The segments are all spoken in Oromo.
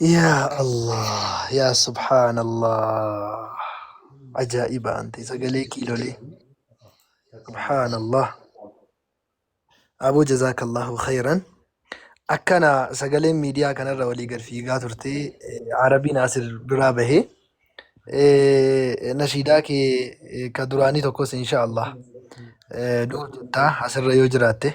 Yaa Allah, yaa subhaanallah. Ajaa'iba ante sagalee kiilolee. Subhaanallah. Aboo jazaakallahu khayran. Akkana sagaleen miidiyaa kanarra walii gad fiigaa turte. Eh, Arabiin asir duraa bahee. Eh, Nashiidaa kee eh, ka duraanii tokkos insha Allah. Eh, Du'u jettaa asirra yoo jiraatte.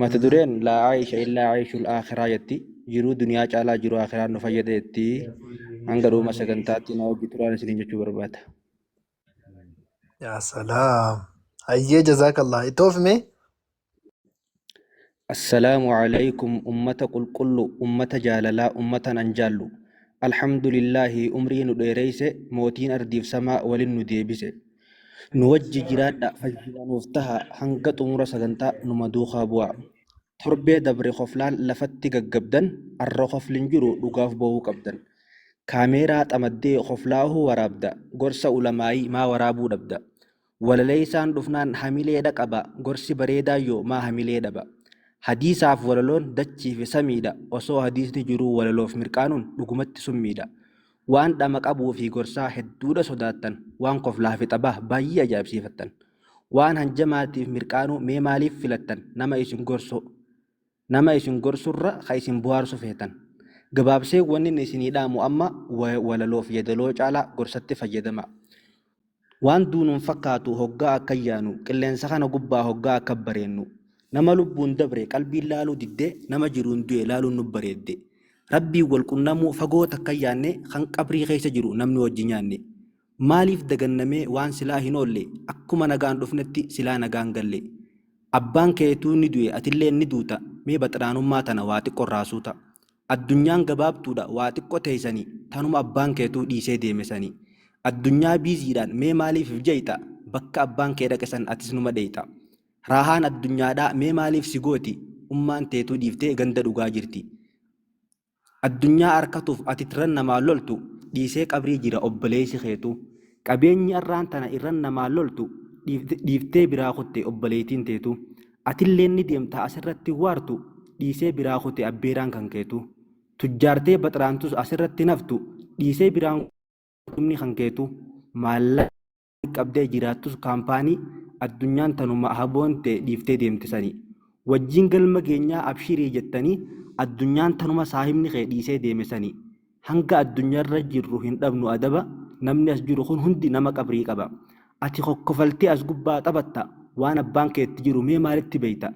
Mata dureen laa aisha illaa aishul akhiraa jetti jiruu duniyaa caalaa jiruu akhiraa nu fayyada jetti hanga dhuma sagantaatti na wajji turaan isiniin jechuu barbaada. Yaa salaam. Hayyee jazaakallah. Itti oofime. Assalaamu alaykum ummata qulqullu ummata jaalalaa ummata nan jaallu alhamdulillaahi umrii nu dheereyse mootiin ardiif samaa walin nu deebise Nu wajji jiraadhaa fayyaa nuuf tahaa hanga xumura sagantaa numa duukaa bu'aa. Torbee dabre koflaan lafatti gaggabdan arra kofli hin jiru dhugaaf boohuu qabdan. Kaameeraa xamaddee koflaahuu waraabda gorsa ulamaa'ii maa waraabuu dhabda. Walaleessaan dhufnaan hamilee dhaqaba gorsi bareedaan yoo maa hamilee dhaba. Hadiisaaf walaloon dachiifi samiidha osoo hadiisni jiruu walaloof mirqaanuun dhugumatti summiidha. Waan dhama qabuu fi gorsaa hedduudha sodaattan, waan koflaa fi xabaa baay'ee ajaa'ibsiifattan. Waan hanjamaatiif mirqaanuu mee maaliif filattan nama isin gorsuu? Nama isin gorsurra ka isin bohaarsu feetan. Gabaabsee wannin isinii dhaamu amma walaloof yedaloo caalaa gorsatti fayyadamaa. Waan duunuun fakkaatu hoggaa akka yaanu, qilleensa kana gubbaa hoggaa akka bareennu, nama lubbuun dabre qalbiin laaluu diddee nama jiruun du'e laaluun nu bareedde. Rabbiin wal qunnamuu fagoo takka yaanne kan qabrii keessa jiru namni wajji nyaanne. Maaliif daganna mee waan silaa hin oolle akkuma nagaan dhufnetti silaa nagaan galle. Abbaan keetuu ni du'e atilleen ni duuta mee baxiraanummaa tana waa xiqqo irraa suuta. Addunyaan gabaabduudha waa xiqqo teessani tanuma abbaan keetuu dhiisee deeme sani addunyaa biiziidhaan mee maaliif if jeeyta bakka abbaan kee dhaqe san atis numa dheeyta raahaan addunyaadhaa mee maaliif si gooti ummaan teetuu dhiiftee ganda dhugaa jirti addunyaa arkatuuf ati tirran namaa loltu dhiisee qabrii jira obboleeysi keetuu Qabeenyi arraan tana irran namaan loltu dhiiftee biraa kutte obboleeytiin teetu. Atilleen ni deemta as irratti waartu dhiisee biraa kute abbeeraan kan keetu. Tujjaartee baxraantus as irratti hin haftu dhiisee biraan kutumni kan keetu. Maallaqa gaarii qabdee jiraattus kaampaanii addunyaan tanuma ahaboon tee dhiiftee deemte sanii. Wajjiin galma geenyaa abshirii jettanii addunyaan tanuma saahibni kee dhiisee deeme sanii. Hanga addunyarra jirru hin dhabnu adaba, namni as jiru kun hundi nama qabrii qaba. Ati kokkofaltee as gubbaa taphatta, waan abbaan kee itti jiru mee maalitti beekta?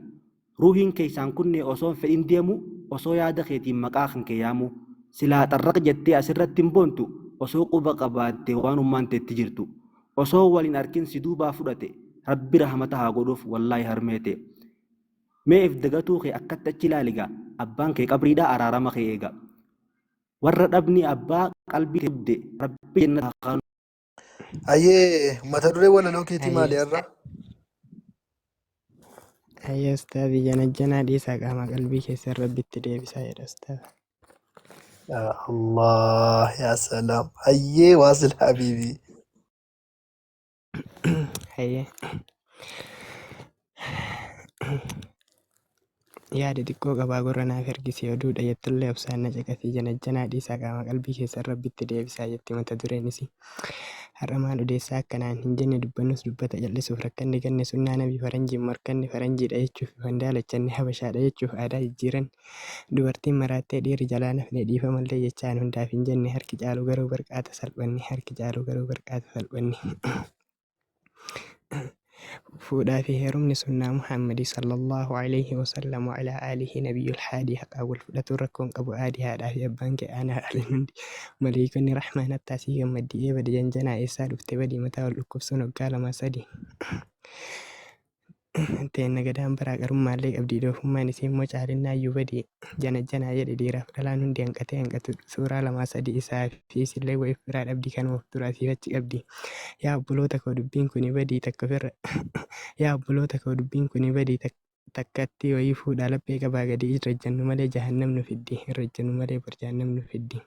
Ruuhiin keessaan kunnee osoo hin fedhin deemuu, osoo yaada keetiin maqaa kan kee yaamuu. Silaa xarraq jettee as irratti hin boontu, osoo quba qabaattee waanummaan teetti jirtu. Osoo wal hin arkin si duubaa fudhate, Rabbi rahamata haa godhuuf wallaahi harmee tee. Mee if dagatuu kee akkatti achi ilaali gaa abbaan kee qabriidhaa araarama kee eegaa warra dhabni abbaa qalbii kee gubde rabbi jennata haa kaanu. Hayyee mata duree walaloo keetii Hayyee maali har'a? hayyee ustaazi janajjanaa dhiisaa qaama qalbii keessan rabbitti deebisaa jedha ustaaza. Yaa Allah yaa salaam. Hayyee waasil habiibii. Hayyee. Yaada xiqqoo qabaa gurra naaf ergisi oduudha jettullee obsaan na caqasii janajjanaa dhiisaa qaama qalbii keessan rabbitti deebisaa jetti mata dureen isii. Har'a maal odeessaa akkanaan hin jenne dubbannus dubbata jal'isuuf rakkanni ganne sunnaa nabii faranjiin morkanne faranjiidha jechuuf ifan daalachanne habashaadha jechuuf aadaa jijjiiranne Dubartiin maraattee dhiirri jalaa na fide dhiifamallee jechaan hundaaf hin jenne harki caalu garuu barqaata salphanni harki caalu garuu barqaata salphanni. Fuudhaa fi heerumni sunnaa Muhammadi sallallahu alayhi wa sallam wa ala alihi nabiyyul haadii haqaa wal fudhatuun rakkoon qabu aadi haadhaa fi abbaan kee aanaa dhaalin hundi maleeykonni rahmaan hattaa sii gammaddi ee badi janjanaa eessaa dhufte badi mataa wal dhukkubsuun hoggaa lamaa sadii Teenna gadaan baraa qarummaallee qabdii doofummaan isii immoo caalinnaayyuu badii janajjanaa jedhe dhiiraaf dhalaan hundi hanqatee hanqatudha suuraa lamaa sadii isaa fi isillee wa iffiraa dhabdii kanuma of dura asiif achi qabdii yaa obboloota koo dubbiin kuni badii takka ofirra yaa obboloota koo dubbiin kuni badii tak- takkatti wayii fuudhaa laphee qabaa gadii irra ejjannu malee jahannam nu fiddi irra ejjannu malee bor jahannam nu fiddi.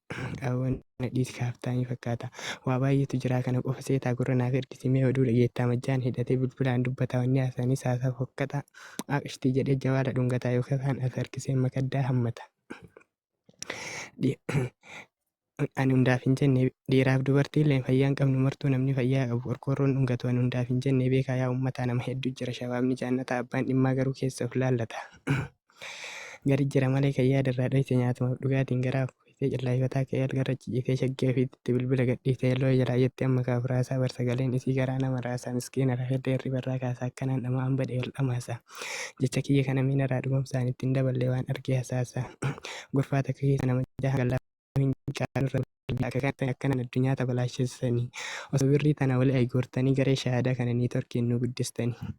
Qaawwan nadhiis kaaftaanii fakkaata. Waa baay'eetu jiraa kana qofa seetaa gurra naaf ergisi mee oduu dhageettaa majjaan hidhatee bilbilaan dubbataa wanni haasaanis haasaa fokkataa aaqshtii jedhee jawaala dhungataa yookiin kaan as harkisee makaddaa hammata. Ani hundaaf hin jenne dhiiraaf dubartiilleen fayyaa hin qabnu martuu namni fayyaa qabu qorqoorroon dhungatu ani hundaaf hin jenne beekaa yaa uummataa nama hedduu jira shabaabni jaannataa abbaan dhimmaa garuu keessa of laallata. Gari jira malee kan yaada irraa dhoyse nyaatumaaf dhugaatiin garaa fooyisee callaayifataa ka'ee algarra ciciisee shaggee ofiitti itti bilbila gadhiisee looya jalaa jetti amma kaaf raasaa bar sagaleen isii garaa nama raasaa miskiina rafeedda hirribarraa kaasaa akkanaan dhama'aan bade wal dhamaasa jecha kiyya kana miinaraa dhugomsaan itti hin daballee waan argee hasaasa gorfaa takka keessa nama jaha hanga lafa hin qabne caaluu irra guddaa akka kanatti akkanaan addunyaa tabalaashessanii osoo birrii tana wali aygoortanii garee shahaadaa kana niitorkiin nu guddistanii.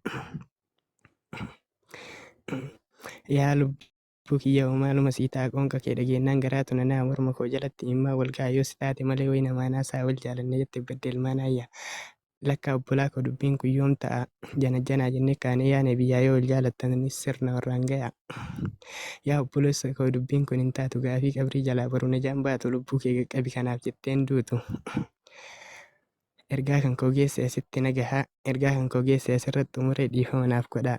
Yaa lubbuu kiyya hoo maaluma sii ta'a qoonqa kee dhageennaan garaatu na na'a morma koo jalatti imimmaan wal ga'a yoo si taate malee wayna maanaa saa wal jaalanne jette badde ilmaan aayyaa. Lakkaa obbolaa koo dubbiin kun yoom ta'a janajjanaa jennee kaanee yaane biyyaa yoo wal jaalattanis sirna warraan gayaa. Yaa obboleessa koo dubbiin kun hin taatu gaafii qabrii jalaa boru najaan baatu lubbuu kee qaqqabi kanaaf jettee hin duutu. Ergaa kan koo geesse asitti na gahaa ergaa kan koo geesse asirratti xumuree dhiifama naaf godhaa.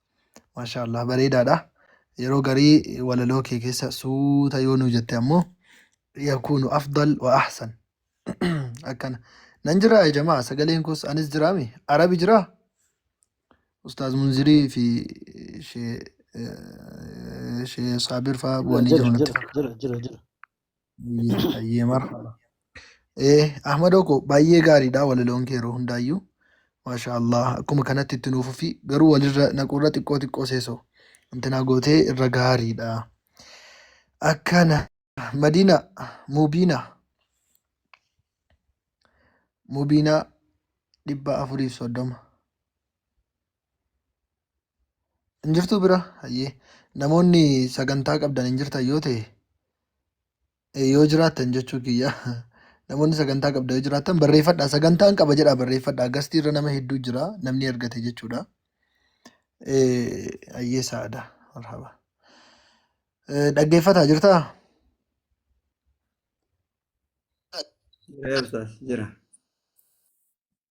Maashaallah bareedaadha. Yeroo garii walaloo kee keessa suuta yoo nuu jette ammoo yakuunu afdal wa ahsan. Akkana. Nan jiraa ya jamaa sagaleen koos anis jiraami. Arabi jiraa? Ustaaz Munzirii fi shee shee Saabir fa'aa bu'anii jiru jira natti jira fakkaata. jira jira jira Baay'ee marhaba. Eh, Ahmadoo koo baay'ee gaariidha walaloon kee yeroo hundaayyuu. Maashaa Allah akkuma kanatti itti nuuf fi garuu walirra naquurra xiqqoo xiqqoo seesoo intinaa gootee irra gaariidha. Akkana Madina Mubiina Mubiina dhibba afuriif soddoma. Hin jirtuu bira? Hayyee. Namoonni sagantaa qabdan hin jirtan yoo ta'e eh, yoo jiraattan jechuu kiyya namoonni sagantaa qabdan yoo jiraattan barreeffadhaa sagantaan qaba jedhaa barreeffadhaa gastii irra nama hedduu jira namni argate jechuudha. Eh, Hayyee saada marhaba. Eh, Dhaggeeffataa jirtaa? Jira Ustaaz, jira.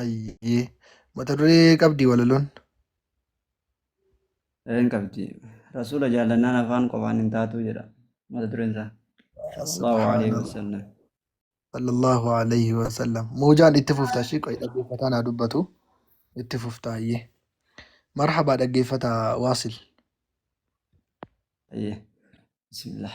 Ayyee. Mata duree qabdii walaloon? Een qabdi. Rasuula jaallannaan afaan qofaan hin taatuu jedha. Mata dureen isaa. Sallallahu alaihi Subhaanallah. wasallam. Sallallahu alaihi wasallam. Muujaan itti fufta ishii qoy dhaggeeffataan haa dubbatu. Itti fufta ayyee. Marhabaa dhaggeeffataa waasil. Ayyee. Bismillah.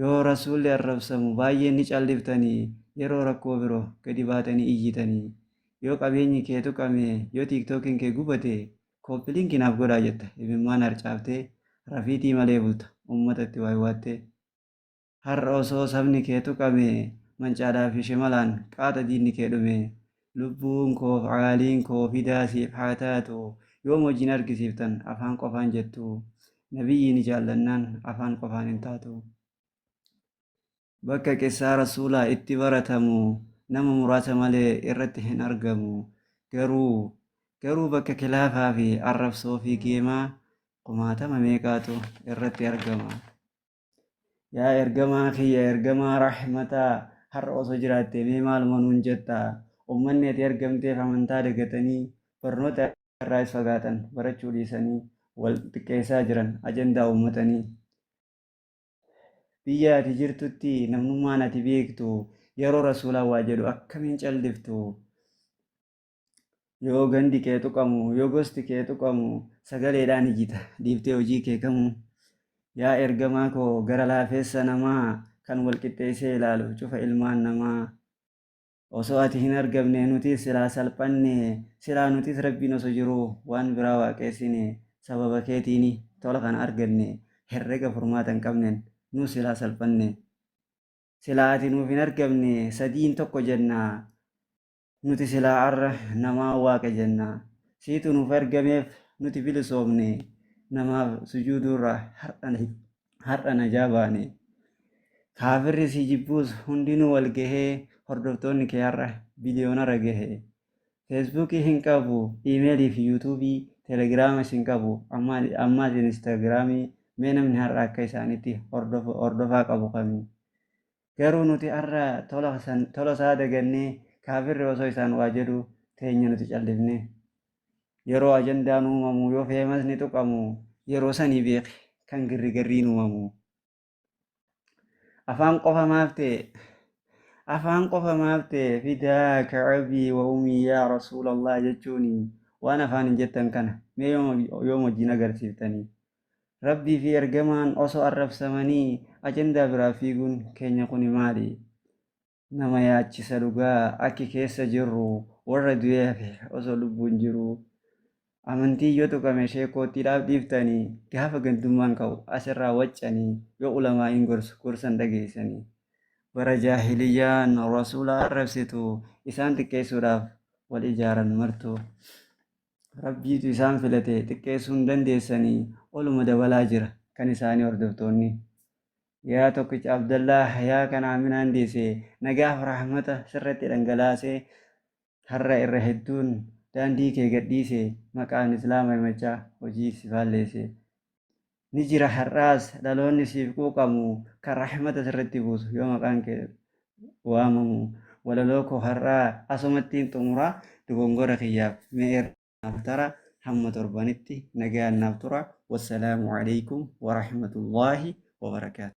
Yoo Rasuulli arrabsamu baay'ee ni calliftani, yeroo rakkoo biro gadi baatanii iyyitani. Yoo qabeenyi kee tuqame, yoo TikTokin kee gubate, Copy link naaf godhaa jetta imimmaan harcaaftee rafiitii malee bulta ummatatti waywaattee. Har'a osoo sabni kee tuqame, mancaadhaa fi shimalaan qaata diinni kee dhume. Lubbuun koof Aaliin koo fidaa siif haa taatu yoom wajjin argisiiftan afaan qofaan jettu Nabiyyii ni jaallannaan afaan qofaan hin taatu Bakka qissaa Rasuulaa itti baratamu nama muraasa malee irratti hin argamu garuu garuu bakka kilaafaa fi arrabsoo fi geemaa kumaatama meeqaatu irratti argama. Yaa ergamaa kiyya ergamaa rahmataa har'a osoo jiraattee mee maaluma nuun jetta ummanni ati ergamteef amantaa dagatanii barnoota irraas fagaatan barachuu dhiisanii wal xiqqeessaa jiran ajandaa uummatanii. Biyya ati jirtutti namnummaan ati beektu yeroo rasuulaa waa jedhu akkamiin caldiftu yoo gandi kee tuqamu yoo gosti kee tuqamu sagaleedhaan ijita dhiiftee hojii kee kamuu yaa ergamaa koo gara laafeessa namaa kan wal qixxeessee ilaalu cufa ilmaan namaa osoo ati hin argamne nutis silaa salphanne silaa nutis rabbiin osoo jiru waan biraa waaqeessine sababa keetiini tola kana arganne herrega furmaata hin qabnen nus silaa salphanne silaa ati nuuf hin argamne sadiin tokko jenna Nuti silaa arra namaa Waaqa jenna. Siitu nuuf ergameef nuti bilisoomne. Namaaf sujuuduurraa har'a na- har'a najaa baane. Kaafirri si jibbuus hundinuu wal gahee hordoftoonni kee har'a biliyoonarra gahe. Feesbuukii hin qabu, iimeelii fi yuutuubii, telegiraamas hin qabu, ammaa- ammaas inistaagiraamii mee namni har'a akka isaanitti hordofu- hordofaa qabu kami? Garuu nuti har'a tola san tola isaa dagannee kaafirri osoo isaan waa jedhu teenya nuti callifne. Yeroo ajandaan uumamu yoo feemasni tuqamu yeroo sanii beeki kan girrigarriin uumamu. Afaan qofa maaf ta'e? Afaan qofa maaf ta'e fidaaka abii wa umii yaa rasuulallah jechuun waan afaan hin jettan kana mee yoom wajjin agarsiiftanii? Rabbii fi ergamaan osoo arrabsamanii ajandaa biraa fiiguun keenya kuni maali? Nama yaachisa dhugaa akki keessa jirru warra du'ee hafe osoo lubbuun jiruu amantiin yoo tuqame sheekkoottiidhaaf dhiiftanii gaafa gandummaan ka'u asirraa waccanii yoo ulamaa'iin gorsu gorsan dhageessanii bara jaahiliyyaan rasuula arrabsitu isaan xiqqeessuudhaaf wal ijaaran martuu. Rabbiitu isaan filate xiqqeessuu hin dandeessani oluma dabalaa jira kan isaanii hordoftoonni. Yaa tokkicha Abdallaa hayaa kan Aaminaan deesse nagaaf rahmata sirratti dhangalaase har'a irra hedduun daandii kee gadhiise maqaan Islaama himachaa hojii si faalleesse. ni jira har'aas dhaloonni siif quuqamu kan rahmata sirratti buusu yoo maqaan kee waamamu walaloo koo har'aa asumattiin xumuraa dogongora kiyyaaf mee irraaf tara hamma torbanitti nagaan naaf tura wassalaamu alaikum warahmatullaahi wabarakaatu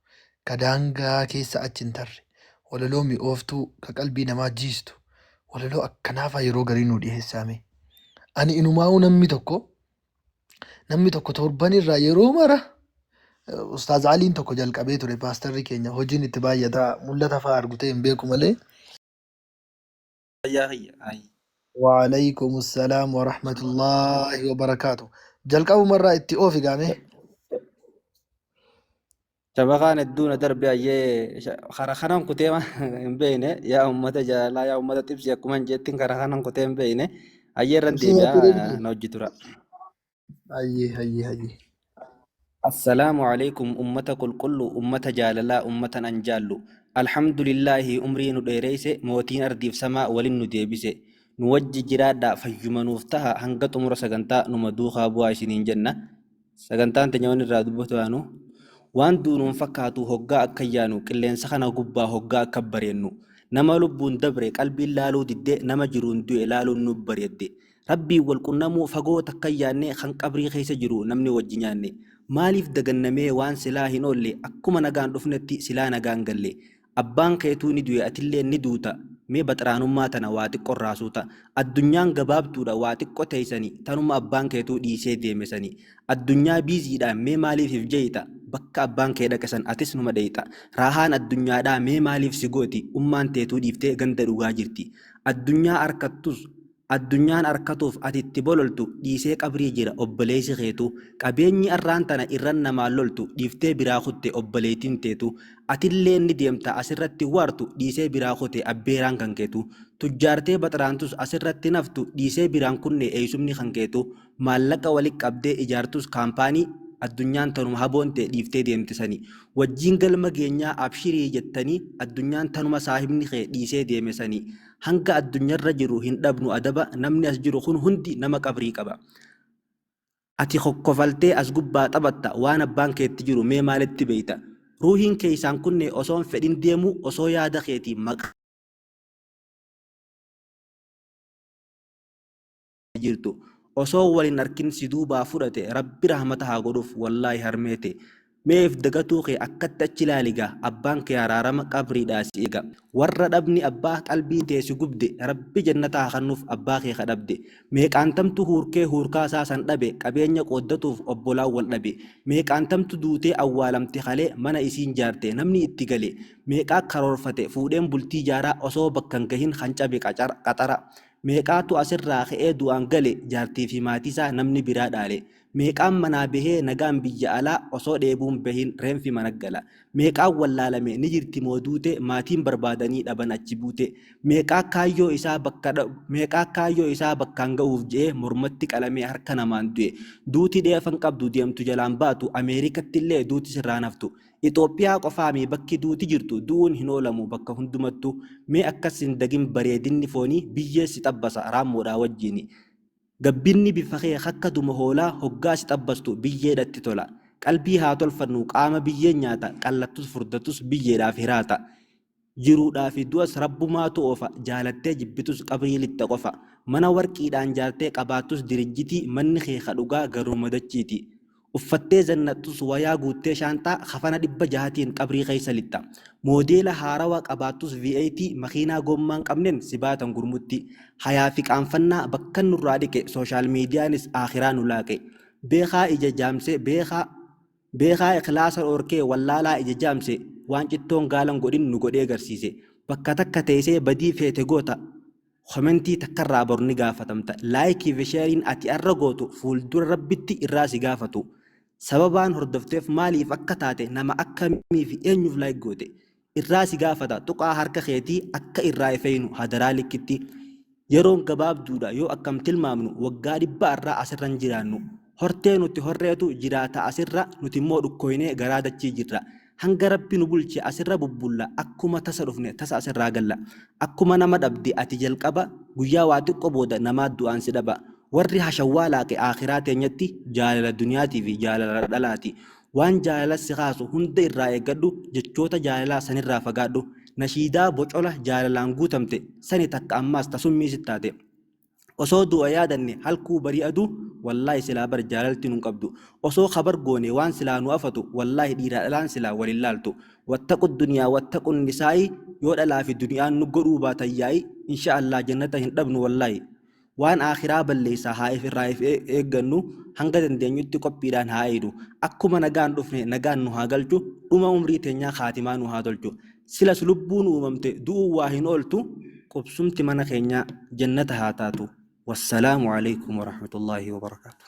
ka daangaa keessa achi hin tarre, walaloo mi'ooftuu ka qalbii namaa jiistu walaloo akkanaafaa yeroo garii nuu dhiheessaa mee. Ani inumaa'uu namni tokko namni tokko torban irraa yeroo mara eh, Ustaaz Aliin tokko jalqabee ture paastarri keenya hojiin itti baay'ata mul'ata fa'aa argutee hin beeku malee fayyaa kiyya hayi. Waaleykum salaam warahmatullahi wabarakaatu. Jalqabuma irraa itti oofi gaame. Shabakaan hedduu na darbe ayyee sha- kara kanan kutee ma- hin beekne yaa uummata jaalalaa yaa uummata xibsi akkuma hin jettin kara kanan kutee hin beekne ayyee irran Ibsii deebi'a natti deebi'e. na hojji tura. Hayyee hayyee hayyee. Assalaamu alaikum ummata qulqullu ummata jaalalaa ummatan an jaallu Alhamdulillaahi umrii nu dheereyse mootiin ardiif samaa walin nu deebise nu wajji jiraadhaa fayyuma nuuf taha hanga xumura sagantaa numa duukaa bu'aa isiniin jenna sagantaan teenya wan irraa dubbatu yaanu waan duunu hin fakkaatu hoggaa akka yaanu qilleensa kana gubbaa hoggaa akka bareennu nama lubbuun dabre qalbiin laaluu didde nama jiruun du'e laaluun nuuf bareedde Rabbiin wal qunnamuu fagoo takka hin yaanne kan qabrii keessa jiru namni wajji nyaanne maaliif daganna mee waan silaa hin oolle akkuma nagaan dhufnetti silaa nagaan galle abbaan keetuu ni du'e atilleen ni duuta mee baxraanummaa tana waa xiqqo irraa suuta addunyaan gabaabduudha waa xiqqo teessani tanuma abbaan keetuu dhiisee deeme sani addunyaa biiziidhaan mee maaliif if jeeyxa bakka abbaan kee dhaqe san atis numa dheeyxa raahaan addunyaadhaa mee maaliif si gooti ummaan teetuu dhiiftee ganda dhugaa jirti addunyaa arkattus Addunyaan arkatuuf ati itti bololtu dhiisee qabrii jira obboleeysi keetu Qabeenyi arraan tana irran namaan loltu dhiiftee biraa kutte obboleeytin teetu Atilleen ni deemta asirratti waartu dhiisee biraa kute abbeeraan kan keetu Tujjaartee baxraantus asirratti naftu dhiisee biraan kunne eeysumni kan keetu Maallaqa wali qabdee ijaartus kaampaanii Addunyaan tanuma haboon tee dhiiftee deemte sani Wajjiin galma geenyaa abshirii jettanii Addunyaan tanuma saahibni kee dhiisee deeme sani hanga addunyarra jiru hin dhabnu adaba namni as jiru kun hundi nama qabrii qaba ati kokkofaltee as gubbaa taphatta waan abbaan keetti jiru mee maalitti beeyta ruuhiin keeysaan kunne osoon fedhin deemu osoo yaada keetiin maqaa jirtu osoo wal hin arkin si duubaa fudhate rabbi rahmata haa godhuuf wallaahi harmee tee meef dagatuu kee akkatti achi ilaali gaa abbaan kee araarama qabriidhaa si eega warra dhabni abbaa qalbii tee si gubde rabbi jannata haa kannuuf abbaa kee ka dhabde meeqaantamtu huurkee huurkaa isaa san dhabe qabeenya qooddatuuf obbolaan wal dhabe meeqaantamtu duutee awwaalamte kalee mana isiin jaarte namni itti gale meeqaa karoorfate fuudheen bultii jaaraa osoo bakka hin gahin kan cabe qaxara Meeqaatu as irraa ka'ee du'aan gale jaartii fi maatii isaa namni biraa dhaale. Meeqaan manaa bahee nagaan biyya alaa osoo dheebuu hin bahiin reenfi mana gala. Meeqaan wallaalame ni jirti moo duute maatiin barbaadanii dhaban achi buute. Meeqaa kaayyoo isaa bakka meeqaa kaayyoo isaa bakkaan ga'uuf je'ee mormatti qalamee harka namaan du'e. Duuti dheefa hin qabdu deemtu jalaan baatu Ameerikatti illee duuti sirraa hin haftu. Ixoophiyaa qofaamii bakki duuti jirtu du'uun hin oolamu bakka hundumattu mee akkas hin dagin bareedinni foonii biyyee si xabbasa raammoodhaa wajjiini gabbinni bifa kee akka duma hoolaa hoggaa si xabbastu biyyeedhatti tola qalbii haa tolfannu qaama biyyeen nyaata qallattus furdattus biyyeedhaaf hiraata Jiruudhaa fi du'as Rabbumaatu oofa, jaalattee jibbitus qabrii lixxa qofa. Mana warqiidhaan jaartee qabaattus dirijjitii, manni kee ka dhugaa garuuma dachiiti. Uffattee zannaxxus wayaa guuttee shaanxaa, kafana dhibba jahatiin qabrii keessa lixxa. Moodeela haarawa qabaattus V8, makiinaa goommaa hin qabneen si baatan gurmutti. Hayaa fi qaanfannaa bakkan nurraa dhiqe, sooshaal miidiyaanis aakhiraa nu laaqe. Beekaa ija jaamse, beekaa. Beekaa ikhlaasa dhorkee wallaalaa ija jaamse waan cittoon gaalan godhin nu godhee garsiise bakka takka teeysee badii feete goota komentii takkarraa bor ni gaafatamta like fi sheriin ati arra gootu fuuldura rabbitti irraa si gaafatu sababaan hordofteef maaliif akka taate nama akkamii fi eenyuuf like goote irraa si gaafata tuqaa harka keetii akka irraa ifeeynu hadaraa likkitti yeroon gabaabduudha yoo akkam tilmaamnu waggaa dhibba irraa asirra hin jiraannu hortee nuti horreetu jiraata asirra nuti immoo dhukkooynee garaa dachii jirra hanga rabbi nu bulche asirra bubbulla akkuma tasa dhufne tasa asirraa galla akkuma nama dhabde ati jalqaba guyyaa waa xiqqo booda namaa du'aan si dhaba warri hashawwaa laaqe aakhiraa teenyatti jaalala duniyaatiifi jaalala dhalaati Waan jaalala si kaasu hunda irraa eeggadhu, jechoota jaalalaa san irraa fagaadhu. Nashiidaa bocola jaalalaan guutamte sani takka ammaas ta summii sit taate. Osoo du'a yaadanne halkuu barii aduu wallaahi silaa bar jaalalti nun qabdu. Osoo kabar goone waan silaa nu afatu wallaahi dhiiraa dhalaan silaa wal hin laaltu. Wattaqu duniyaa wattaqu nisaa'i yoo dhalaa fi duni'aan nu godhuu baatan yaa'i inshaa Allaah jannata hin dhabnu wallaahi. Waan Aakhiraa balleessaa haa if irraa if eeggannu, hanga dandeenyutti qophiidhaan haa eeynu. Akkuma nagaan dhufne nagaan nu haa galchu, dhuma umrii teenyaa khaatimaa nuu haa tolchu. Silas lubbuun uumamte du'uun waa hin ooltu, qubsumti mana keenyaa jannata haa taatu. Wassalaamu Aleeykum Warahmatullaahi Wabarakaatuh.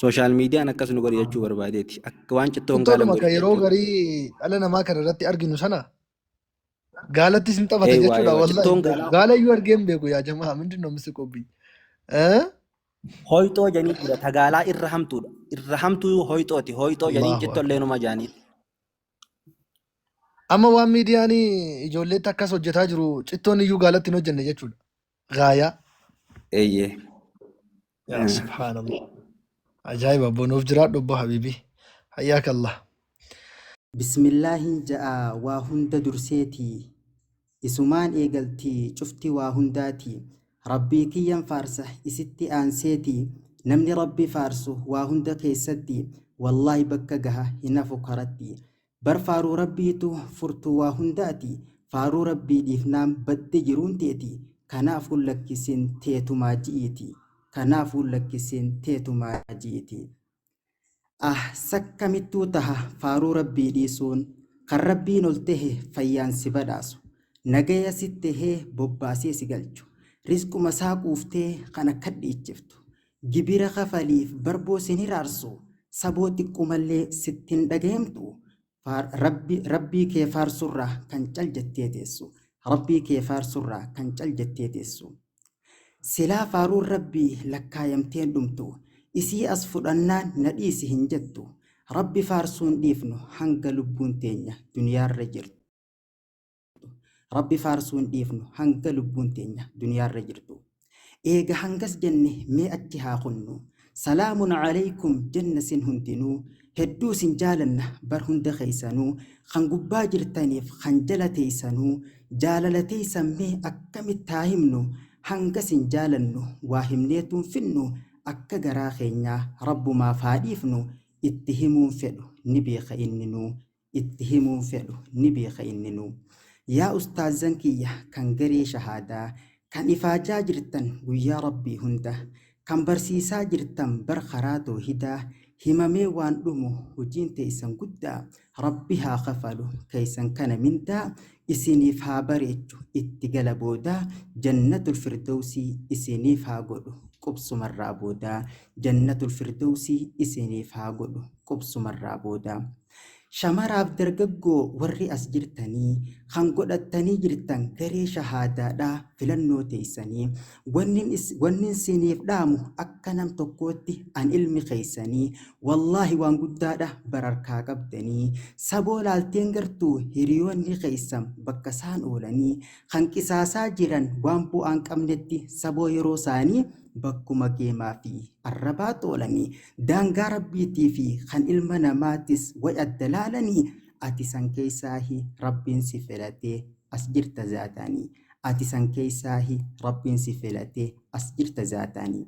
Sooshaal miidiyaan akkas nu godhe jechuu barbaadeeti. Akka waan cittoo hin gaalan Cittoodhuma godhe kan yeroo jechuudha. garii dhala namaa kana irratti arginu sana gaalattis hin taphata Ee waa jechuudha. ee waa Wallahi cittoon hin beeku. gaalaa Gaala iyyuu argee hin beeku yaa jamaa. Mindin noo misi qobbii. Eh? hoyxoo janii jira tagaalaa irra hamtuudha. Irra hamtuu hoyxooti. Hoyxoo janii Allahu cittoo akbar. illee numa jaanii. Amma waan miidiyaan ijoolleetti akkas hojjetaa jiru cittoon iyyuu gaalatti hin hojjenne jechuudha. Gaayaa. Eeyyee. yaa Eh, subhaanallah ajaa'iba abbo nuuf jiraadhu abbo habiibii hayyaaka allah Bismillaahiin ja'a waa hunda durseeti Isumaan eegalti cufti waa hundaati Rabbii kiyyan faarsa isitti aanseeti Namni Rabbi faarsu waa hunda keessatti Wallaahi bakka gaha hin hafu karatti Bar faaruu Rabbiitu furtuu waa hundaati, faaruu Rabbii dhiifnaan badde jiruun teeti, kanaafuu lakkisiin teetumaa ji'iiti, kanaafuu lakkisiin teetumaa ji'iiti. Ah sakkamittuu taha faaruu Rabbii dhiisuun, kan Rabbiin ol tehe fayyaan si badhaasu, nagaya sitti tehee bobbaasee si galchu, rizqumasaa quuftee kana kadhiichiftu, Gibira kafaliif barboo sin hiraarsu saboo xiqqumallee sitti hin dhagahemtu rabbii kee faarsurraa kan cal jettee teessu rabbii kee faarsurraa kan cal jettee teessu silaa faaruun rabbii lakkaayamtee hin dhumtu isii as fudhannaan na dhiisi hin jettu rabbi faarsuun dhiifnu hanga lubbuun teenya duniyaarra jirtu. Rabbi faarsuu hin dhiifnu hanga lubbuun teenya duniyaarra jirtu. Eega hangas jenne mee achi haa kunnu. Salaamun alaikum jenna sin hundinuu. Hedduu sin jaalanna bar hunda keessanuu. Kan gubbaa jirtaniif kan jala teessanuu. Jaalala teessan mee akkamitti haa himnu. Hanga sin jaalannu waa himneetu hin finnu. Akka garaa keenyaa rabbumaaf haa dhiifnu. Itti himuun fedhu ni beeka inninuu. itti himuun fedhu ni beeka inninuu. Yaa ustaazzan kiyya kan garee shahaadaa kan ifaajaa jirtan guyyaa Rabbii hunda kan barsiisaa jirtan bar karaa toohidaa himamee waan dhumu hojiin teeysan guddaa Rabbi haa kafalu keeysan kana mindaa isiniif haa bareechu itti gala boodaa jannatul firdowsii isiniif haa godhu qubsumarraa boodaa jannatul firdowsii isiniif haa godhu qubsumarraa boodaa. Shamaraaf dargaggoo warri as jirtanii kan godhattanii jirtan garee shahaadaadha filannoo teessanii wannin is- wannin siiniif dhaamu akka nam tokkootti an ilmi keessanii wallaahi waan guddaadha bararkaa qabdanii saboo laalteen gartuu hiriyoonni keessan bakka isaan oolanii kan qisaasaa jiran waan bu'aan qabnetti saboo yeroo isaanii bakkuma geemaa fi arrabaa toolanii daangaa rabbiitii fi kan ilma namaatis way adda laalanii ati san keeysaahi rabbiin si filatee as jirta zaataanii ati san keeysaahi rabbiin si filatee as jirta zaataanii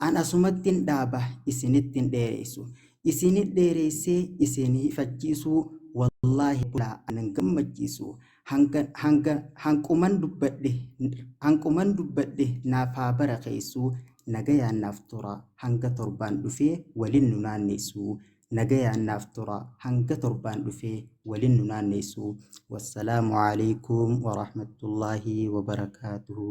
an asumattin dhaaba isinittin dheereysu isinit dheereysee isin hifachiisuu wallaahi bulaa anan gammachiisu Hanga, hanga, hanquman dubbadhe, hanquman dubbadhe naaf haa barakeessuu, nagayaan naaf tura, hanga torbaan dhufee walin nu naanneessuu, nagayaan naaf tura, hanga torbaan dhufee walin nu naanneessuu. Wassalaamu alaikum wa rahmatullahi wa barakaatuhu.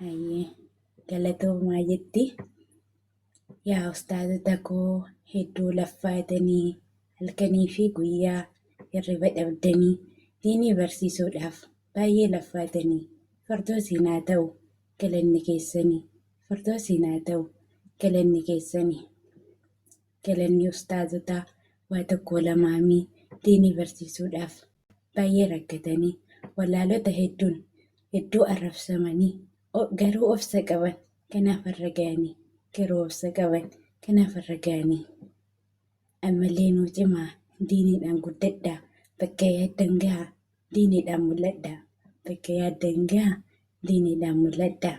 Hayyee galatoomaa jetti. Yaa ustaazota koo hedduu laffaatanii halkanii fi guyyaa hirriba dhabdanii diinii barsiisuudhaaf baay'ee laffaatanii fardoosiin haa ta'u galanni keessanii fardoosiin haa ta'u galanni keessanii. Galanni ustaazotaa waa tokkoo lamaamii diinii barsiisuudhaaf baay'ee rakkatanii wallaalota hedduun hedduu arrabsamanii o- garuu obsa qaban kanaaf har'a ga'anii garuu obsa qaban kanaaf har'a ga'anii ammallee nuu cimaa diiniidhaan guddadhaa bakka yaaddan gahaa diiniidhaan mul'adhaa bakka yaaddan gahaa diiniidhaan mul'adhaa.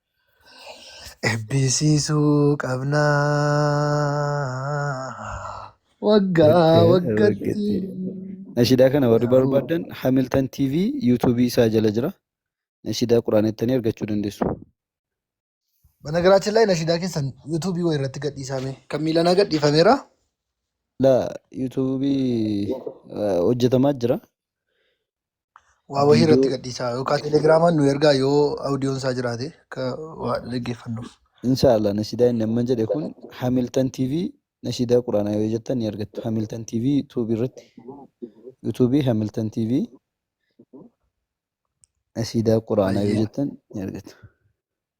Ebbisiisuu qabna waggaa waggatti. Nashidaa kana warri barbaadan Hamilton TV yuutuubii isaa jala jira. Nashidaa quraan jettanii argachuu dandeessu. Banagaraachin laay nashidaa keessan yuutuubii wayii irratti gadhiisaame. Kan miilanaa gadhiifameera. La yuutuubii hojjetamaa jira. Waa wahii irratti viidiyoo gadhiisaa yookaan telegiraamaan nu ergaa yoo audiyoon isaa jiraate akka waa dhaggeeffannuuf. inshallah nashidaa inni amman jedhe kun Hamilton TV nashidaa quraanaa yoo jettan ni argattu Hamilton TV YouTube irratti YouTube Hamilton TV nashidaa quraanaa yoo Hayyee. jettan ni argattu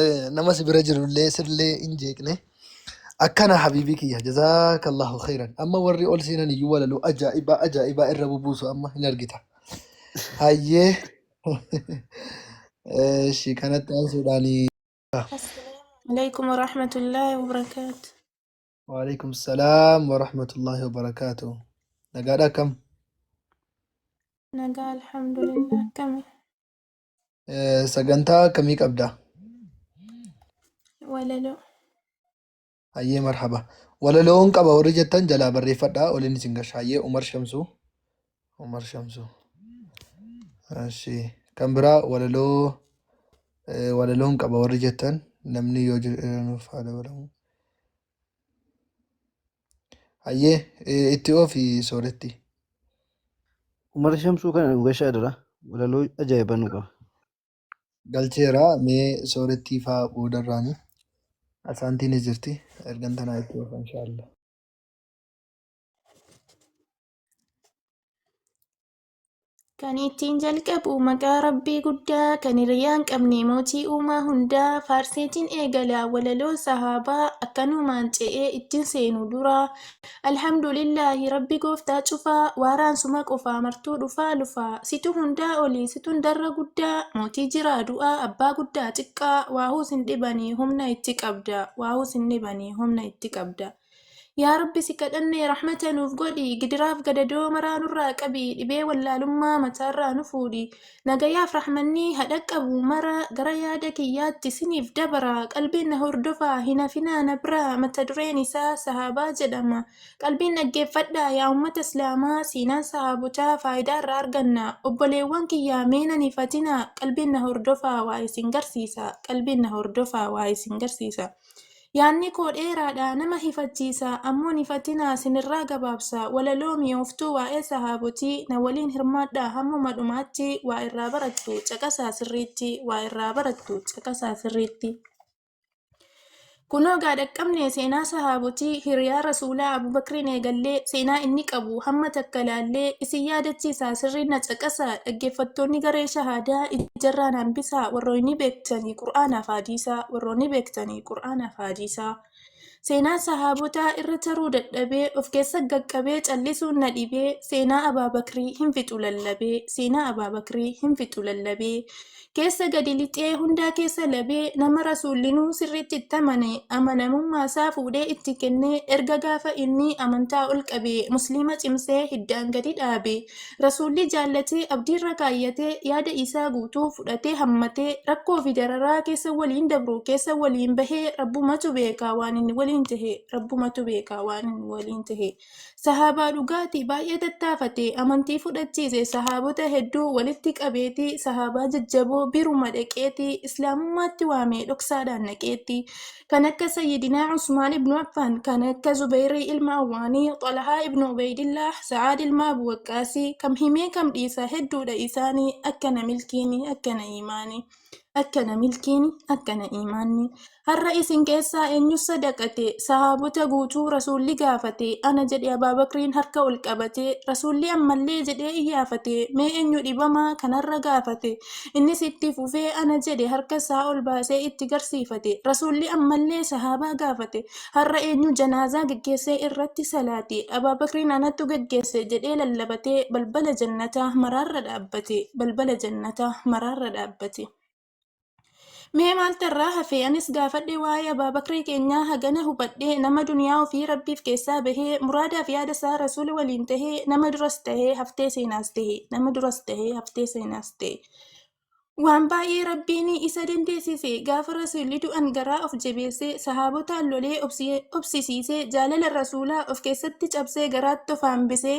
Eh, nama si bira jirullee sirlee hin jeeqne akkana habiibii kiyya jazaakallahu khairan amma warri ol seenan iyyuu walaloo ajaa'ibaa ajaa'ibaa irra bubuusu amma hin argita hayyee Eh, ishii kanatti aansuudhaan Assalaamu alaikum wa rahmatullahi wa barakaatu. waalaikum salaam warahmatullaahi wabarakaatu nagaadha akkam Nagaa alhamdulillah akkami. Eh, Sagantaa akkamii qabda? Walaloo. Hayyee marhaba. Walaloon qaba warri jettan jalaa barreeffadhaa waliin isin gasha. Hayyee Umar Shamsuu. Umar Shamsuu. Ashii. Kan biraa walaloo eh, walaloon qaba warri jettan namni yoo jira nuuf haa dabalamu. Hayyee eh, itti oofi sooretti. Umar Shamsuu kana nu gashaa dura walaloo ajaa'ibaa nu qaba. Galcheera mee soorettii faa boodarraani. Asaantiin ni jirti. Ergan tanaa itti oofa inshaallah. Kan ittiin jalqabu maqaa Rabbii guddaa kan hiriyaan qabne mootii uumaa hundaa faarseetiin eegala walaloo sahaabaa akkanumaan ce'ee ittiin seenu dura alhamdulillaahi Rabbi gooftaa cufaa waaraan suma qofaa martuu dhufaa lufaa situ hundaa olii situ hundarra guddaa mootii jiraa du'aa abbaa guddaa xiqqaa waahuu sin dhibanii humna itti qabda waahuu sin dhibanii humna itti qabda Yaa Rabbi si kadhanne rahmata nuuf godhi, gidiraaf gadadoo maraa nurraa qabi, dhibee wallaalummaa mataarraa nu fuudhi. Nagayaaf rahmanni ha dhaqqabu mara gara yaada kiyyaatti siniif dabara, qalbiin na hordofaa hin hafinaa na biraa mata dureen isaa sahaabaa jedhama. Qalbiin dhaggeeffadhaa yaa ummata islaamaa seenaan sahaabotaa faayidaa irraa arganna. Obboleewwan kiyya mee nan hifatinaa qalbiin na hordofaa waa isin garsiisa, qalbiin na hordofaa waa isin garsiisa. Yaanni koo dheeraadha, nama hifachiisa, ammoo nifatinaa, sinirraa gabaabsa. Walaloo mi'ooftuu waa'ee Sahaabotii na waliin hirmaadhaa hammuma dhumaatti waa irraa barattu, caqasaa sirriitti, waa irraa barattu, caqasaa sirriitti. Kunoo gaa dhaqqabne seenaa Sahaabotii, hiriyaa Rasuulaa Abuu Bakriin eegallee seenaa inni qabu hamma takka laallee isin yaadachiisaa sirriin na caqasaa, dhaggeeffattoonni garee shahaadaa ijarraa na hambisaa, warrooynii beektu. beektanii qur'aanaaf haadiisaa warroonni beektanii qur'aanaaf haadiisaa seenaa sahaabotaa irra taruu dadhabee of keessa gaqqabee callisuun na dhibee seenaa abaa bakrii hin fixu lallabee seenaa abaa bakrii hin fixu lallabee keessa gadi lixee hundaa keessa labee nama rasuullinuu sirriitti itti amane amanamummaa isaa fuudhee itti kennee erga gaafa inni amantaa ol qabee musliima cimsee hiddaan gadi dhaabe Rasuulli jaallatee, abdiirra kaayyatee, yaada isaa guutuu fudhatee hammatee, rakkoo fi dararaa keessa waliin dabru, keessa waliin bahe, Rabbumatu beeka waan inni waliin tahe, Rabbumatu beeka waan inni waliin tahe. Sahaabaa dhugaati, baay'ee tattaafate, amantii fudhachiise, sahaabota hedduu walitti qabeeti, sahaabaa jajjaboo biruma dhaqeeti, Islaamummaatti waamee dhoksaadhaan naqeetti. kan akka sayyidinaa Usmaan ibnu Affaan kan akka Zubayrii ilma Awwaanii Xalahaa ibnu Ubaydillaah Sa'aad ilma Abu Waqqaasii kam himee kam dhiisa hedduudha isaanii akkana milkiini akkana iimaani akkana milkiini akkana iimaanni har'a isin keessaa eenyu sadaqate sahaabota guutuu rasuulli gaafate ana jedhe Abaabakriin harka ol qabate rasuulli ammallee jedhee iyyaafate mee eenyu dhibamaa kanarra gaafate Innis itti fufee ana jedhe harka isaa ol baasee itti garsiifate. Rasuulli ammallee sahaabaa gaafate, har'a eenyu janaazaa geggeessee irratti salaate? Abaa Bakriin anatu geggeesse jedhee lallabatee balbala jannataa maraarra dhaabbate. Balbala jannataa maraarra dhaabbate. Mee maaltu irraa hafe? Anis gaafadhe waa'ee Abaa Bakrii keenyaa hagana hubadhe nama duniyaa ofii Rabbiif keessaa bahee muraadaa fi yaada isaa Rasuula waliin tahe nama duras tahe haftee seenaas tahe nama duras tahe haftee seenaas tahe waan baay'ee Rabbiin isa dandeessise gaafa Rasuulli du'an garaa of jabeessee sahaabotaan lolee obsi- obsisiisee jaalala Rasuulaa of keessatti cabsee garaatti of hambisee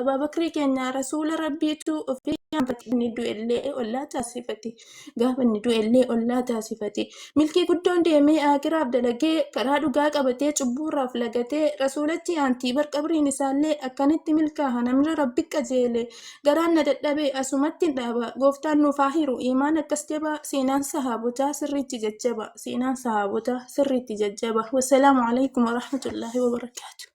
Abaabakrii keenya rasuula rabbiitu ofii yaamfate inni du'ellee ollaa taasifate gaafa inni du'ellee ollaa taasifate milkii guddoon deemee aakiraaf dalagee karaa dhugaa qabatee cubbuurraaf lagatee rasuulatti aantii bar qabriin isaallee akkanitti milkaaha namni rabbi qajeele garaan na dadhabe asumatti hin dhaaba gooftaan nuuf haa hiru iimaan akkas jabaa seenaan sahaabotaa sirriitti jajjaba seenaan sahaabotaa sirriitti jajjaba wassalaamu alaikum warahmatullaahi wabarakaatu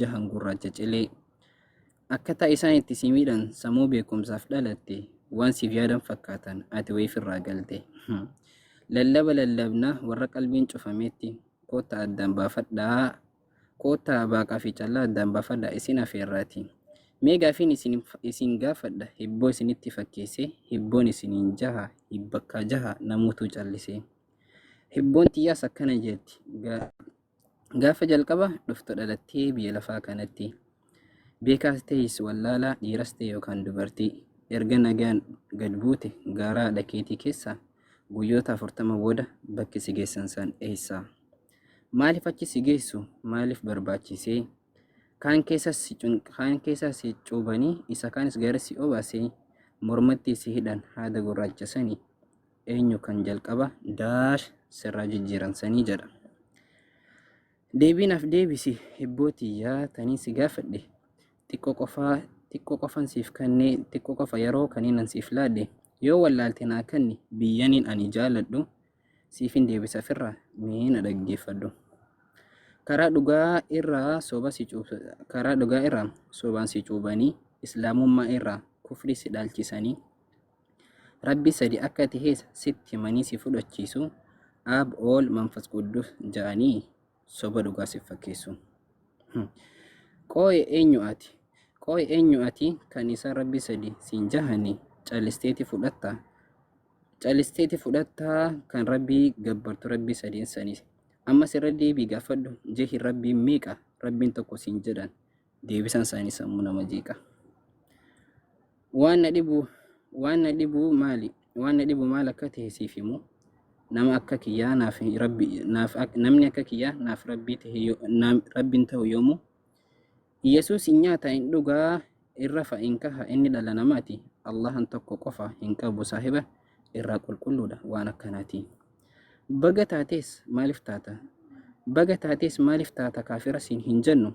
jahan gurraacha cilee akkataa isaan itti si miidhan sammuu beekumsaaf dhalatte waan siif yaadan fakkaatan ati wayiif irraa galte lallaba lallabna warra qalbiin cufametti koottaa addaan baafadhaa koottaa baaqaa fi callaa addaan baafadhaa isin afeerraati mee gaafiin isin, isin gaafadha hibboo isinitti fakkeesse hibboon isiniin jaha hibbakkaa jaha namuutuu callisee Hibboon tiyyaas akkana jetti. Gaafa jalqaba dhuftu dhalattee biyya lafaa kanatti. Beekaas ta'es wallaalaa dhiiras ta'e yookaan dubartii. Erga nagaan gad buute gaaraa dhakeetii keessaa guyyoota afurtama booda bakki si geessan san eessa? Maaliif achi si geessu? Maaliif barbaachisee? Kaan keessa si cuubanii isa kaanis gara si obaasee mormatti si hidhan haada gurraacha sanii. eenyu kan jalqaba daash sirraa jijjiiran sanii jedha. Deebii naaf deebisi hibboo tiyyaa tanii si gaafadhe xiqqoo qofaa xiqqoo qofan siif kennee xiqqoo qofa yeroo kaniinan siif laadhe yoo wallaalte naa kenni biyyaniin ani jaaladhu siifin deebisa firra mee na dhaggeeffadhu. Karaa dhugaa irraa soba si cuubsa karaa dhugaa irraa sobaan si cuubanii islaamummaa irraa kufrii si dhaalchisanii Rabbi sadi akka tahes sitti himanii si fudhachiisu Aab Ool Manfas Quddus ja'anii soba dhugaa sif fakkeessu. Qooy eenyu ati? Qooy eenyu ati kan isaan Rabbi sadi siin jahani callisteeti fudhatta? Callisteeti fudhatta kan Rabbii gabbartu Rabbi sadeen sanis. Ammas irra deebii gaafadhu jahi Rabbiin meeqa? Rabbiin tokko siin jedhan. deebisan isaanii sammuu nama jeeqa. Waan na dhibu waan na dhibu maali waan na dhibu maal akka ta'e siif himu nama akka kiyyaa naaf rabbi naaf namni akka kiyyaa naaf rabbii ta'e rabbiin ta'u yoomu Yesuus hin nyaata hin dhugaa irra fa'a hin kaha inni dhala namaati Allahan tokko qofa hin qabu saahiba irraa qulqulluudha waan akkanaati. Baga taatees maaliif taata? Baga taatees maaliif taata kaafira siin hin jennu?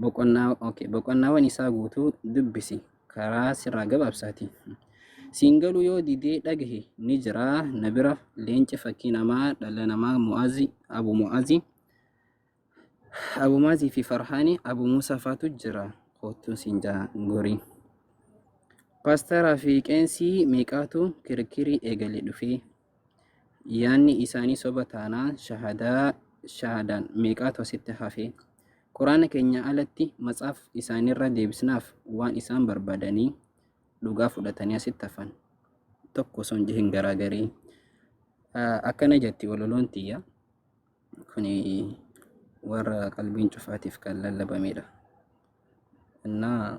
Boqonnaa, okay. Boqonnaawwan isaa guutuu dubbisi. Karaa sirraa gabaabsaati. Siin galuu yoo didee dhagahe ni jiraa na bira leenci fakkii namaa dhala namaa mu'azi abu mu'azi abu mu'azi fi farhaani abu muusaa faatu jira koottuu siin jaa gorii. Paastaraa fi qeensii meeqaatu kirkirii eegale dhufee. yaanni isaanii soba taanaan shahadaa shahadaan meeqaatu asitti hafee quraana keenya alatti matsaaf isaanirra deebisnaaf waan isaan barbaadanii dhugaa fudhatanii asitti hafan tokko osoo hin jihin garaa garii akkana jetti walaloon tiyya kuni warra qalbiin cufaatiif kan lallabamedha. Innaa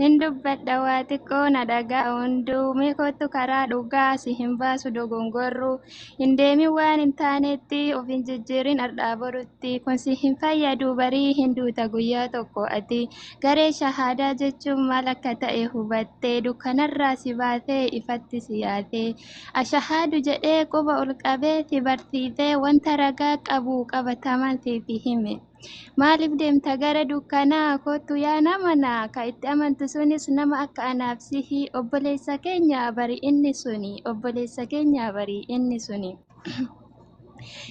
Hin dubbadha waa xiqqoo na dhaga'a hunduu mee kottu karaa dhugaa si hin baasu dogongorru hin deemin waan hin taanetti of hin jijjiirin har'aa borutti kun si hin fayyadu barii hin duuta guyyaa tokko ati garee shahaadaa jechuun maal akka ta'e hubattee dukkanarraa si baatee ifatti si yaatee Ashahaadu jedhee quba ol qabee si barsiisee wanta ragaa qabu qabatamaan siif hime. Maaliif deemta gara dukkanaa kottu yaa nama naa ka itti amantu sunis nama akka anaaf sihi obboleessa keenya bari inni suni obboleessa keenya bari inni suni.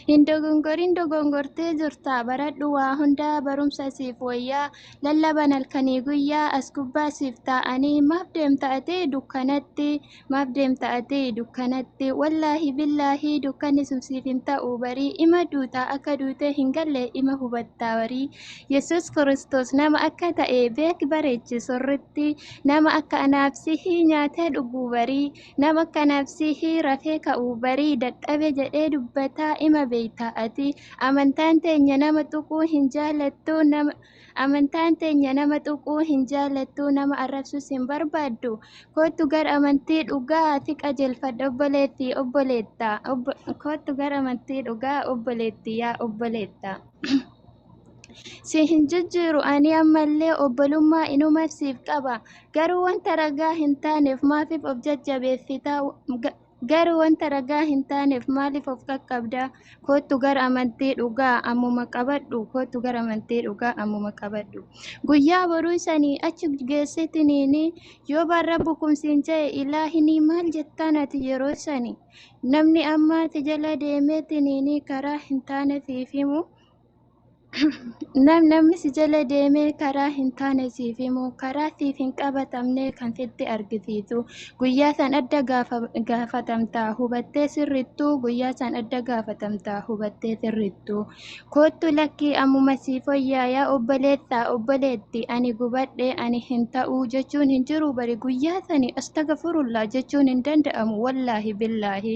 Hin dogongorin dogongortee jirta baradhu waa hundaa barumsa siif wayyaa lallaban halkanii guyyaa as gubbaa siif taa'anii maaf deemta ati dukkanatti Maaf deemta ati dukkanatti? Wallaahi billaahi dukkanni sun siif hin ta'u barii ima duuta akka duutee hin galle ima hubatta barii. Yesuus Kiristoos nama akka ta'e beeki bareechi sirritti. Nama akka anaaf sihii nyaatee dhuguu barii. Nama akka anaaf sihii rafee ka'uu barii dadhabe jedhee dubbataa ima beekta ati. Amantaan teenya nama tuquu hin jaallattu nama Amantaan teenya nama tuquu hin jaallattu, nama arrabsus hin barbaaddu. Koottu gara amantii dhugaa ati qajeelfadha obboleetti, obboleetta. Obbo, koottu gara amantii dhugaa obboleetti, yaa obboleetta. si hin jijjiiru ani ammallee obbolummaa inuman siif qaba garuu wanta ragaa hin taaneef maafiif of jajjabeeffita Garuu wanta ragaa hin taaneef maaliif of qaqqabda? Koottu gara amantii dhugaa ammuma qabadhu. Koottu gara amantii dhugaa ammuma qabadhu. Guyyaa boruu sanii achi geessitiniini yoo baan rabbu kun siin ja'e ilaahinii maal jettaan ati yeroo sani? Namni ammaa ati jala deemeetiniini karaa hin taane siif himu Nam namni si jala deemee karaa hin taane siif himu, karaa siif hin qabatamne kan sitti argisiisu. Guyyaa san adda gaafa- gaafatamta hubattee sirrittu, guyyaa san adda gaafatamta hubattee sirrittu. Koottu lakkii ammuma siif foyyaa yaa obboleessa, obboleetti, ani gubadhe, ani hin ta'u jechuun hin jiru bari guyyaa sani astagafurullah jechuun hin danda'amu wallaahi billaahi.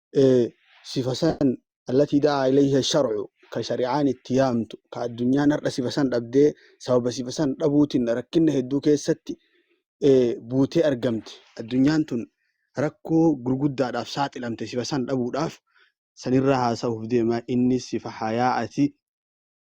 ee sifa san allatii da'aa ilayha sharcu ka shari'aan itti yaamtu ka addunyaan har'a sifa san dhabdee sababa sifa san dhabuutiin rakkinna hedduu keessatti ee buutee argamte addunyaan tun rakkoo gurguddaadhaaf saaxilamte sifa san dhabuudhaaf sanirraa haasa'uuf deema innis sifa hayaa'ati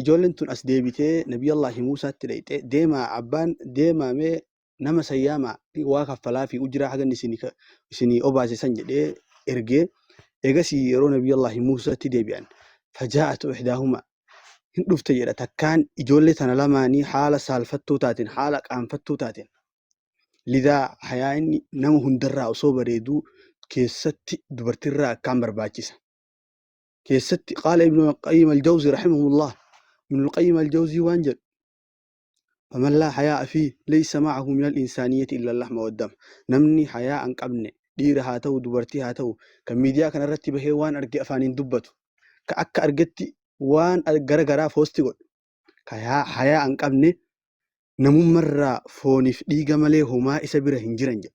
ijoolleen tun as deebitee nabiyallaahi muusaatti dhayxe deemaa abbaan deemaa mee nama san yaamaa waa kaffalaa fi ujiraa hagan isinii obaase san jedhee ergee eegasii yeroo nabiyallaahi muusaatti deebi'an fajaa'atu ihdaahuma hin dhufte jedha takkaan ijoollee tana lamaanii haala saalfattuu taateen haala qaanfattuu taateen lidaa hayaa inni nama hundarraa osoo bareeduu keessatti dubartirraa akkaan barbaachisa. keessatti qaala ibnu qayyim aljawzi rahimahullah ibnu qayyim aljawzi waan jedhu faman laa hayaa'a fi leysa maahu min alinsaaniyyati illa lahma waddam namni hayaa an qabne dhiira haa ta'u dubartii haa ta'u kan miidiyaa kana irratti bahee waan arge afaaniin dubbatu ka akka argetti waan gara garaa foosti godhu ka yaa- hayaa an qabne namummarraa fooniif dhiiga malee homaa isa bira hin jiran jedhe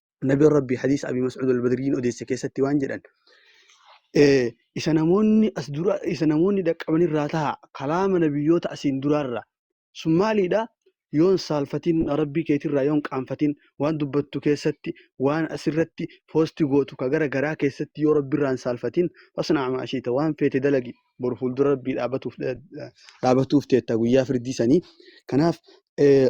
Nabi Rabbi hadiisa Abi Mas'ud al-Badriin odeesse keessatti waan jedhan eh, isa namoonni as dura isa namoonni dhaqqaban irraa taha kalaama nabiyyoota asiin duraarra sun maaliidha yoon saalfatiin rabbii keetirraa yoon qaanfatiin waan dubbattu keessatti waan asirratti poosti gootu ka gara garaa keessatti yoo rabbiirraan saalfatiin fasnaa maashiita waan feete dalagi boru fuuldura rabbii dhaabatuuf dhaabatuuf teetta guyyaa firdii sanii kanaaf eh,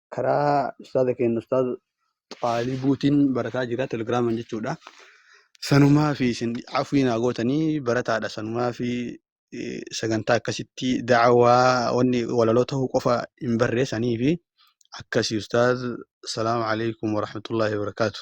karaa ustaaza keenya ustaaz xaalibuutiin barataa jira telegiraaman jechuudha. Sanumaa fi isin afwii naa gootanii barataadha sanumaa fi eh, sagantaa akkasitti da'awaa wanni walaloo ta'uu qofa hin barree sanii fi akkasii ustaaz salaamu alaikum warahmatullaahi wabarakaatu.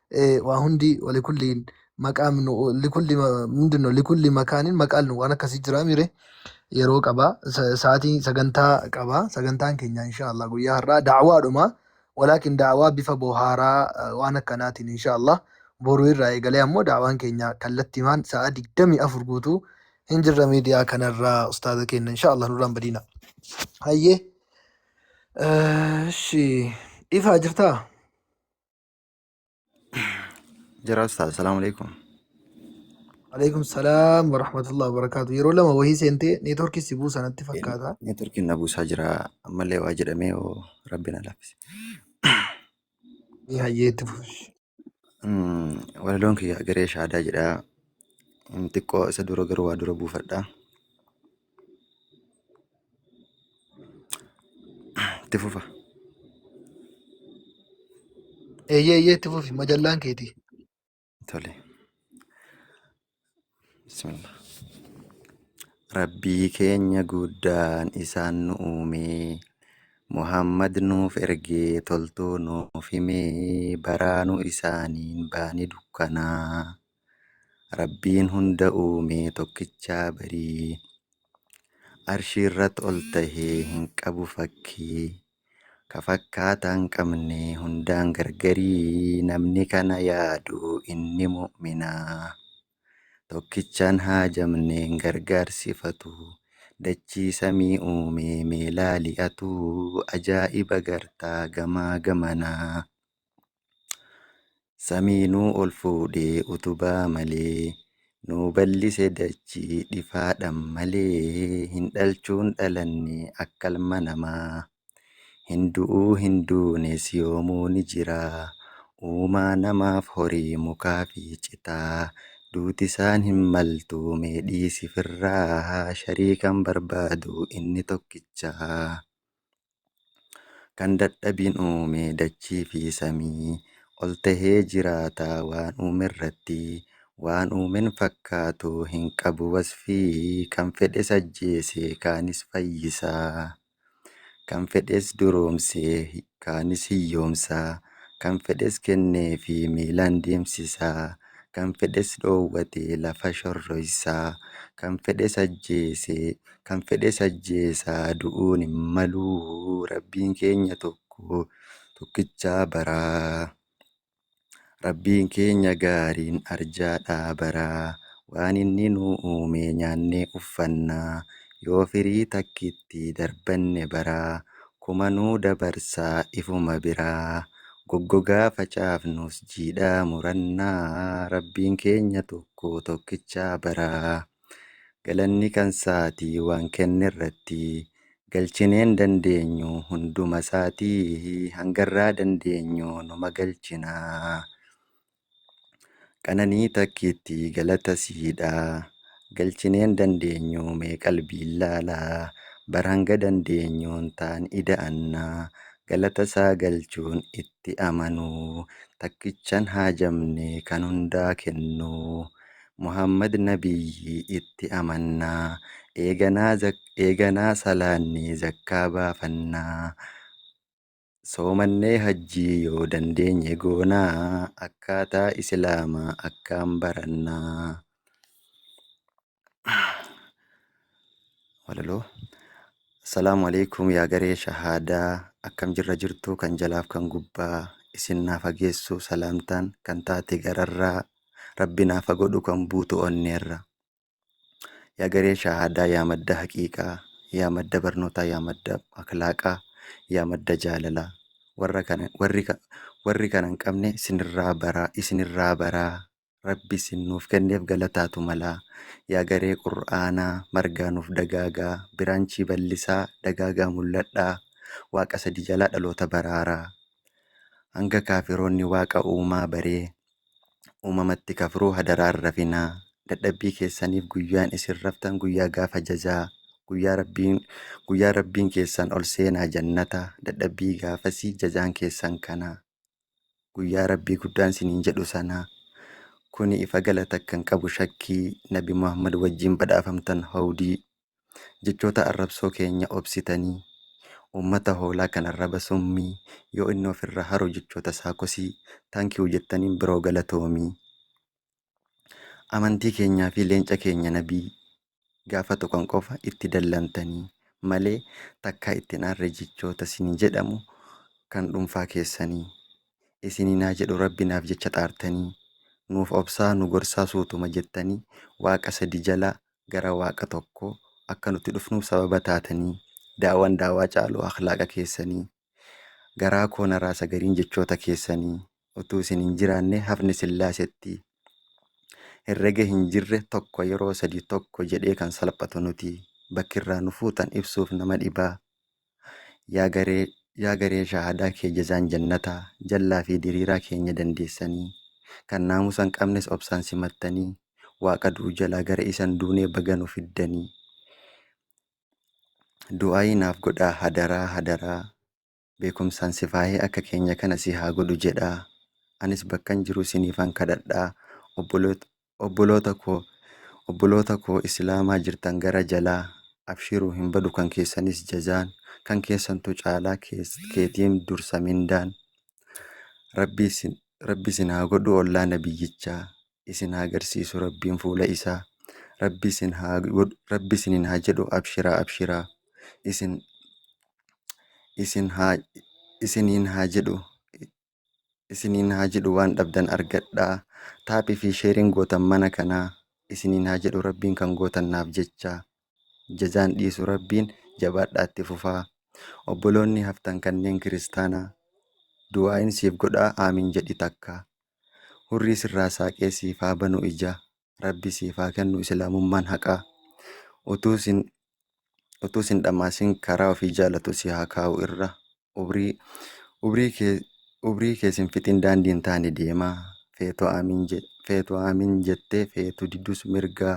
waa hundi walikulliin maqaa minu likulli mindinno likulli makaanin maqaan nu waan akkasii jira mire yeroo qaba sa'aatii sagantaa qaba sagantaan keenya inshaallah guyyaa har'aa da'awaadhuma walaakin da'awaa bifa bohaaraa waan akkanaatiin inshaallah boruu irraa eegalee ammoo da'awaan keenya kallattimaan sa'aa digdamii afur guutuu hin jirra miidiyaa kanarraa ustaaza keenya inshaallah nurraan badiina hayyee shi ifaa jirtaa Jira ustaaz. Salaamu alaikum. Alaikum salaam wa rahmatullahi wa barakaatu. Yeroo lama wahii seentee neetworkii si buusa natti fakkaata. Neetworkiin na buusaa jira. Ammallee waa jedhamee oo rabbi na laaffise. Ni hayyee itti fufi. Mm, Walaloon kiyya garee shaadaa jedha. Mm, Xiqqoo isa dura garuu waa dura buufadha. Itti fufa. Eeyyee eeyyee itti fufi majallaan keetii. Tole. Bismillah. Rabbii keenya guddaan isaan nu uumee Muhammad nuuf ergee toltuu nuuf himee baraanu isaaniin baani dukkanaa. Rabbiin hunda uume tokkicha barii. Arshiirrat ol tahee hin qabu fakkii. Ka fakkaataa hin qabne hundaan gargarii namni kana yaadu inni mu'minaa. Tokkichaan haajamne hin gargaarsifatu. Dachii samii uume mee laali atuu ajaa'iba gartaa gamaa gamanaa. Samii nuu ol fuudhee utubaa malee Nuu ballise dachii dhifaadhan malee Hin dhalchuun dhalanne akka ilma namaa Hin du'uu hin duunes yoomuu ni jira Uumaa namaaf horii mukaa fi citaa Duuti isaan hin maltu mee dhiisi firraa Shariikan barbaadu inni tokkicha. Kan dadhabin uume dachii fi samii Ol tahee jiraata waan uumerratti Waan uumen fakkaatu hin qabu wasfii Kan fedhes ajjeese kaanis fayyisa Kan fedhes duroomse kaanis hiyyoomsa Kan fedhes kenneefi miilaan deemsisa Kan fedhes dhoowwate lafa shorroysa Kan fedhes ajjeese Kan fedhes ajjeesa du'uun hin malu Rabbiin keenya tokko tokkicha bara Rabbiin keenya gaariin arjaadha bara Waan inni nu uume nyaannee uffanna Yoo firii takkitti darbanne bara Kuma nu dabarsa ifuma bira Goggogaa facaafnus jiidhaa muranna Rabbiin keenya tokko tokkicha bara. Galanni kansaati waan kennerratti galchineen dandeenyu hundumasaati hangarraa dandeenyu numa galchina. Qananii takkiitti galata siidha galchineen dandeenyu mee qalbiin laala bar hanga dandeenyuun taan ida'anna galatasaa galchuun itti amanu takkichan haajamne kan hundaa kennu. Muhammad Nabiyyi itti amannaa, eeganaa eeganaa salaannee zakkaa baafannaa, soomannee hajjii yoo dandeenye goonaa, akkaataa islaamaa akkaan barannaa. Walaloo. Assalaamu alaikum yaa garee shahaadaa akkam jirra jirtu kan jalaaf kan gubbaa isin naa fageessu salaamtaan kan taate gararraa Rabbi naaf ha godhu kan buutu onneerra. Yaa garee shahaadaa, yaa madda haqiiqaa, yaa madda barnootaa, yaa madda akhlaaqaa, yaa madda jaalalaa. Warra kana, warri, ka- warri kana hin qabne isinirraa baraa, isinirraa baraa. Rabbi isin nuuf kenneef galataatu malaa. Yaa garee qur'aanaa, margaa nuuf dagaagaa, biraanchii ballisaa, dagaagaa mul'adhaa. Waaqa sadi jalaa dhaloota baraaraa. Hanga kaafiroonni waaqa uumaa baree, uumamatti kafruu hadaraa hin rafinaa dadhabbii keessaniif guyyaan isin raftan guyyaa gaafa jazaa guyyaa rabbiin guyyaa rabbiin keessan ol seenaa jannata dadhabbii gaafasii jazaan keessan kana guyyaa rabbii guddaan siniin jedhu sana kuni ifa galata kan qabu shakkii nabi muhammad wajjiin badhaafamtan hawdii Jechoota arrabsoo keenya obsitanii Uummata hoolaa kan arraba summii Yoo inni of irraa haru jechoota isaa kosii Thank you jettaniin bro galatoomii Amantii keenyaa fi leenca keenya nabii Gaafa tuqan qofa itti dallamtanii Malee takkaa itti hin aarre jechoota sinii jedhamu Kan dhuunfaa keessanii Isiniin haa jedhu rabbi naaf jecha xaartanii Nuuf obsaa nu gorsaa suutuma jettanii Waaqa sadi jalaa gara Waaqa tokko akka nuti dhufnuuf sababa taatanii, daawaan daawaa caalu akhlaaqa keessanii, garaa koo na raasa gariin jechoota keessanii, utuu isin hin jiraanne hafni Sillaasetti, herrega hin jirre tokko yeroo sadii tokko jedhee kan salphatu nuti, bakki irraa nu fuutan ibsuuf nama dhibaa. Yaa garee yaa garee shahaadaa kee jazaan jannataa jallaa fi diriiraa keenya dandeessanii kan naamusa hin qabnes obsaan simattanii waaqa du'u jalaa gara isan duunee baga nu fiddanii du'aayii naaf godhaa hadaraa hadaraa beekumsaan si faayee akka keenya kana si haa godhu jedhaa anis bakkan jiru siniifan kadhadhaa obboloota obboloota koo obboloota koo islaamaa jirtan gara jalaa abshiru hin badu kan keessanis jazaan kan keessantu caalaa keetiin dursa mindaan rabbi isin haa godhu ollaa nabiyyichaa isin haa garsiisu rabbiin fuula isaa rabbi isin haa godhu rabbi isinin haa jedhu abshiraa abshiraa isin isin haa isiniin haa jedhu isiniin haa jedhu waan dhabdan argadhaa taaphii fi sheeriin gootan mana kanaa isiniin haa jedhu rabbiin kan gootan naaf jecha jazaan dhiisu rabbiin jabaadhaa itti fufaa obboloonni haftan kanneen kiristaanaa du'aa'iin siif godhaa aamiin jedhi takka hurrii sirraa saaqee siif haa banu ija rabbi siif haa kennu islaamummaan haqaa utuu sin utuu sin dhamaasin karaa ofii jaalatu si haa kaa'u irra ubrii ubrii kee ubrii kee sin fixin daandii hin taane deemaa feetu aamiin je feetu aamiin jettee feetu didus mirgaa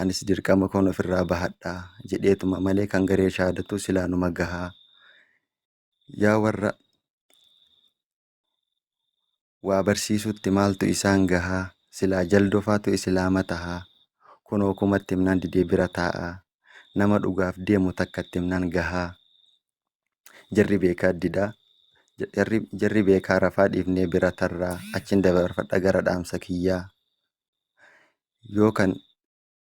anis dirqama koon ofirraa bahadha jedheetuma malee kan garee shaadatu silaa numa gahaa yaa warra waa barsiisuutti maaltu isaan gahaa silaa jaldofaatu isilaama tahaa kunoo kuma itti himnaan didee bira taa'aa nama dhugaaf deemu takka itti himnaan gahaa jarri beekaa didaa jarri, jarri beekaa rafaa dhiifnee bira tarraa achin dabarfadha gara dhaamsa kiyyaa yoo kan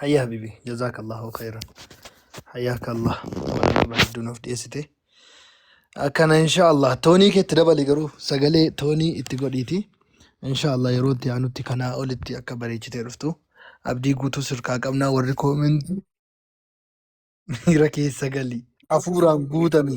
Hayya habibi jazaakallahu khayran. Hayyaaka Allah. Walamaa bareedduu nuuf dhiyeessite. Akkana insha Allah toonii keetti dabali garuu sagalee toonii itti godhiiti. Insha Allah yeroo itti aanutti kanaa olitti akka bareechitee dhuftu abdii guutuu sirkaa qabnaa warri koomentii miira keessa galii. Hafuuraan guutami.